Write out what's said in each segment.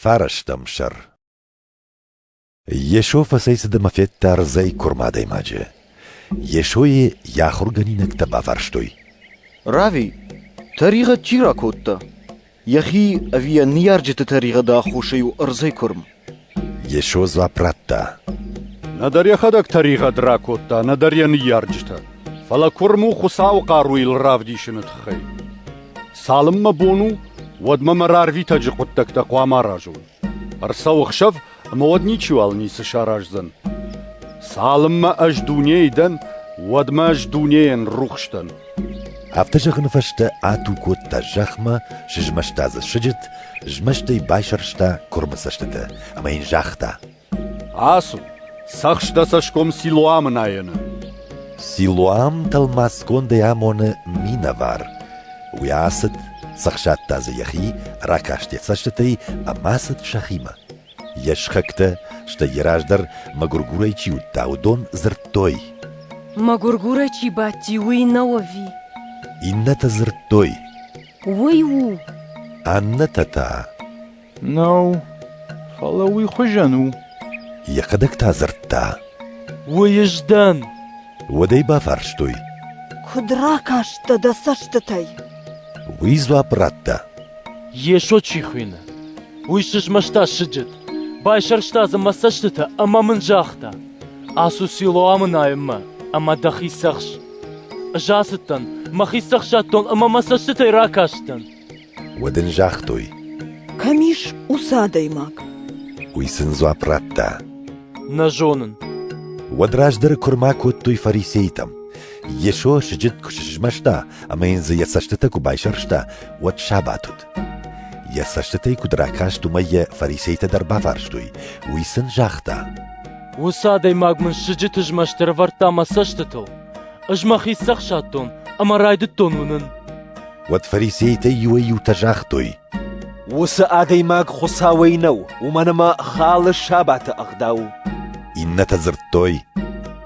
Фарастӕм сӕр Йесо фӕцӕйцыд ӕмӕ федта рдзӕй куырм адӕймаджы. Йесойы йӕ ахуыргӕнинӕгтӕ баварстой. Рави, тӕригъӕд чи ракодта? Йӕхи ӕви йӕ ныййарджыты тӕригъӕды аххосӕй у ӕрдзӕй куырм? Йесо дзуапп радта. Нӕдӕр йӕхӕдӕг тӕригъӕд ракодта, нӕдӕр йӕ ныййарджытӕ. Фӕлӕ куырм у Хуыцауы хъаруйыл равдисыны тыххӕй. Цалынмӕ бон у, уӕдмӕ мӕ рарвитӕджы хъуыддӕгтӕ хъуамӕ аразон. Ӕрцӕуы хсӕв ӕмӕ уӕд ничиуал ницы сараздзӕн. Цалынмӕ ӕз дунейы дӕн, уӕдмӕ ӕз дунейӕн рухс дӕн. Афтӕ зӕгъыны фӕстӕ ату кодта зӕхмӕ, сызмӕста дзы сыджыт, змӕстӕй байсӕрста куырмы цӕстытӕ ӕмӕ йын загъта: Ацу, цӕхс дӕ цӕсгом Силуамы найыны. Силуам тӕлмацгондӕй амоны минӕвар. Уый ацыд, цӕхсадта дзы йӕхи, ракаст йӕ цӕстытӕй ӕмӕ ацыд сӕхимӕ. Йе схӕгтӕ, стӕй йӕ раздӕр мӕгуыргурӕй чи уыдта, уыдон дзырдтой. Мӕгуыргурӕй чи бадти, уый нӕу ӕви? Иннӕтӕ дзырдтой. Уый у. Аннӕтӕ та. Нау, фӕлӕ уый хуызӕн у. Йӕхӕдӕг та дзырдта. Уыйыз дӕн. Уӕд ӕй бафарстой. Куыд ракастӕ дӕ цӕстытӕй? Уый дзуапп радта. Йесо чи хуыйны, уый сызмӕста сыджыт, байсӕрста дзы мӕ цӕстытӕ ӕмӕ мын загъта: Ацу Силоамы найынмӕ ӕмӕ дӕхи цӕхс. Ӕз ацыдтӕн, мӕхи цӕхсадтон ӕмӕ мӕ цӕстытӕй ракастӕн. Уӕд ын загътой: Кӕм ис уыцы адӕймаг? Уый сын дзуапп радта: Нӕ зонын. Уӕд раздӕры куырма кодтой фарисейтӕм. Йесо сыджыт куы сызмӕста ӕмӕ йын дзы йӕ цӕстытӕ куы байсӕрста, уӕд сабат уыд. Йӕ цӕстытӕй куыд ракаст, уымӕй йӕ фарисейтӕ дӕр бафарстой. Уый сын загъта: Уыцы адӕймаг мын сыджыты змӕст ӕрӕвӕрдта мӕ цӕстытыл. Ӕз мӕхи цӕхсадтон ӕмӕ райдыдтон уынын. Уӕд фарисейтӕ иуӕй-иутӕ загътой, «Уыцы адӕймаг Хуыцауӕй нӕу, уымӕн ӕмӕ халы сабаты ӕгъдау». Иннӕтӕ дзырдтой,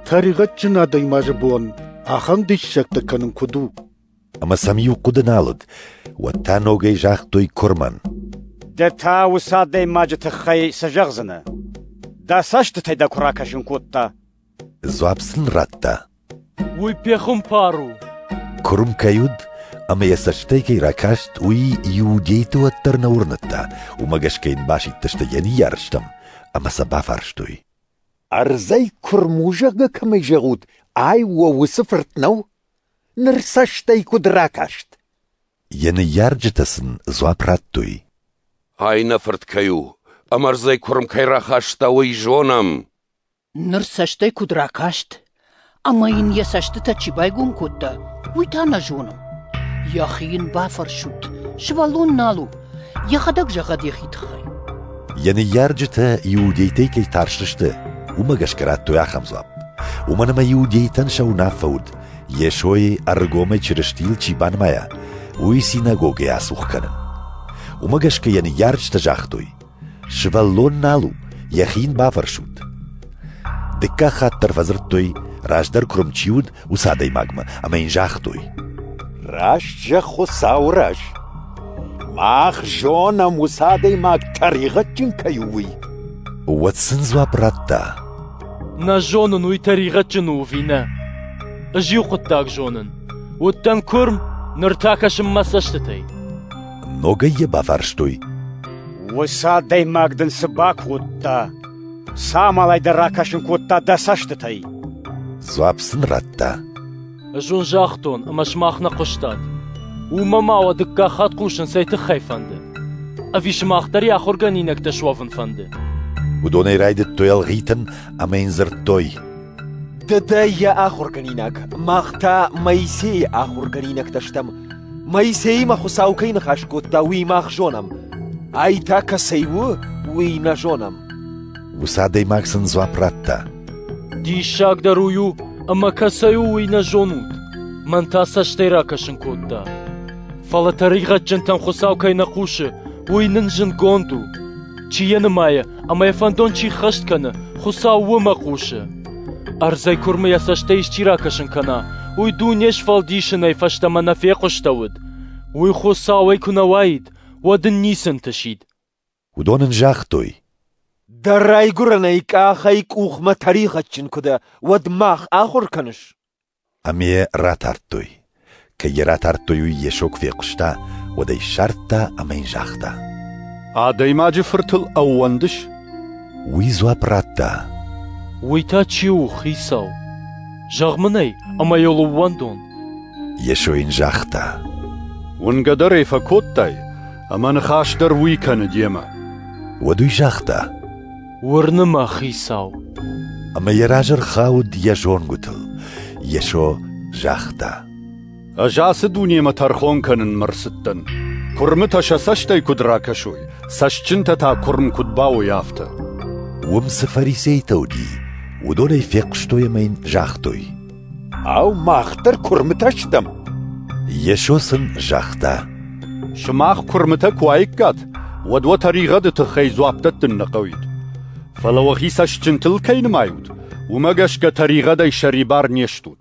«Тӕригъӕдджын адӕймаджы бон ахӕм диссӕгтӕ кӕнын куыд у?» Ӕмӕ сӕм иу хъуыды нал уыд, уӕд та ногӕй загътой куырмӕн, Ды та уыцы адӕймаджы тыххӕй цы зӕгъдзынӕ? Дӕ цӕстытӕй дӕ куы ракӕсын кодта, Дзуапп сын радта, Уый пехуымпар у. куырм кӕй уыд ӕмӕ йӕ цӕстӕй кӕй ракаст, уый иудейтӕ уӕддӕр нӕ уырныдта, уымӕ гӕсгӕ йын басидтысты йӕ ныййарджытӕм ӕмӕ сӕ бафарстой. Ӕрдзӕй куырм у, зӕгъгӕ кӕмӕй зӕгъут, ай уӕ уыцы фырт нӕу? Ныр цӕстӕй куыд ракаст? Йӕ ныййарджытӕ сын дзуапп радтой. Ай нӕ фырт кӕй у, ӕмӕ ӕрдзӕй куырм кӕй рахаста, уый зонӕм. Ныр цӕстӕй куыд ракаст, ӕмӕ йын йӕ цӕстытӕ чи байгом кодта, уый та нӕ зонын. Йӕхи йын бафӕрсут, сывӕллон нал у, йӕхӕдӕг зӕгъӕд йӕхи тыххӕй. Йӕ ныййарджытӕ иудейтӕй кӕй тӕрсысты, уымӕ гӕсгӕ радтой ахӕм дзуапп. Уымӕн ӕмӕ иудейтӕн сӕ уынаффӕ уыд, Йесойы ӕргомӕй Чырыстийыл чи банымайа, уый синагогӕйӕ ацух кӕнын. Уымӕ гӕсгӕ йӕ ныййарджытӕ загътой, Сывӕллон нал у, йӕхи йын бафӕрсут. Дыккаг хатт дӕр фӕдзырдтой, раздӕр куырм чи уыд, уыцы адӕймагмӕ, ӕмӕ йын загътой. Раст зӕгъ, Хуыцауы раз. Мах зонӕм, уыцы адӕймаг тӕригъӕдджын кӕй у, уый. Уӕд сын дзуапп радта. Нӕ зонын уый тӕригъӕдджын у ӕви нӕ. Ӕз иу хъуыддаг зонын. Уыдтӕн куырм, ныр та кӕсын мӕ цӕстытӕй. Ногӕй йӕ бафарстой. Уыцы адӕймаг дын цы бакодта? Цы амалӕй дӕ ракӕсын кодта дӕ цӕстытӕй? Дзуапп сын радта. Ӕз уын загътон, ӕмӕ сымах нӕ хъуыстат. Уымӕ ма уӕ дыккаг хатт хъусын цӕй тыххӕй фӕнды? Ӕви сымах дӕр йӕ ахуыргӕнинӕгтӕ суӕвын фӕнды? Уыдонӕй райдыдтой ӕлгъитын ӕмӕ йын дзырдтой. Дадӕ йӕ ахуыргӕнинаг, мах та Моисейы ахуыргӕнинӕгтӕ стӕм. Моисеимӕ Хуыцау кӕй ныхас кодта, уый мах зонӕм. Ай та кӕцӕй у, уый нӕ зонӕм. Уыцы адӕймаг сын дзуапп радта. Диссагдӕр уый у, ӕмӕ кӕцӕй у, уый нӕ зонут. Мӕн та цӕстӕй ракӕсын кодта. Фӕлӕ тӕригъӕдджынтӕн Хуыцау кӕй нӕ хъусы, уый нын зынгонд у. Чи йӕ нымайы, ӕмӕ йӕ фӕндон чи ххӕст кӕны, Хуыцау уымӕ хъусы. Ӕрдзӕй куырмы йӕ цӕстӕй исчи ракӕсын кӕна, уый дуне сфӕлдисынӕй фӕстӕмӕ нӕ фехъуыстӕуыд. Уый Хуыцауӕй куы нӕ уаид, уӕд ын ницы ӕнтысид. Уыдон ын загътой: «Дӕ райгуырӕнӕй къахӕй къухмӕ тӕригъӕдджын куы дӕ, уӕд мах ахуыр кӕныс?» Ӕмӕ ратардтой. Кӕд йӕ ратардтой, уый Йесо куы фехъуыста, уӕд ӕй ссардта ӕмӕ йын загъта: «Адӕймаджы фыртыл ӕууӕндыс?» Уый дзуапп радта: «Уый та чи у, Хицау? Зӕгъ мын ӕй, ӕмӕ йыл ӕууӕндон». Йесо йын загъта: «Уынгӕ дӕр ӕй фӕкодтай, ӕмӕ ныхас дӕр уый кӕны демӕ». Уӕд уый загъта: уырны мӕ, хицау. Ӕмӕ йӕ разы рхауд йӕ зонгуытыл. Йесо загъта. Ӕз ацы дунемӕ тӕрхон кӕнынмӕ рцыдтӕн. Куырмытӕ сӕ цӕстӕй куыд ракӕсой, цӕстджынтӕ та куырм куыд бауой, афтӕ. Уым цы фарисейтӕ уыди, уыдонӕй фехъуыстой ӕмӕ йын загътой. Ау, мах дӕр куырмытӕ стӕм? Йесо сын загъта. Сымах куырмытӕ куы уаиккат, уӕд уӕ тӕригъӕды тыххӕй дзуапп дӕттын нӕ хъӕуид. Фӕлӕ уӕхи цӕстджынтыл кӕй нымайут, уымӕ гӕсгӕ тӕригъӕдӕй сӕрибар не стут.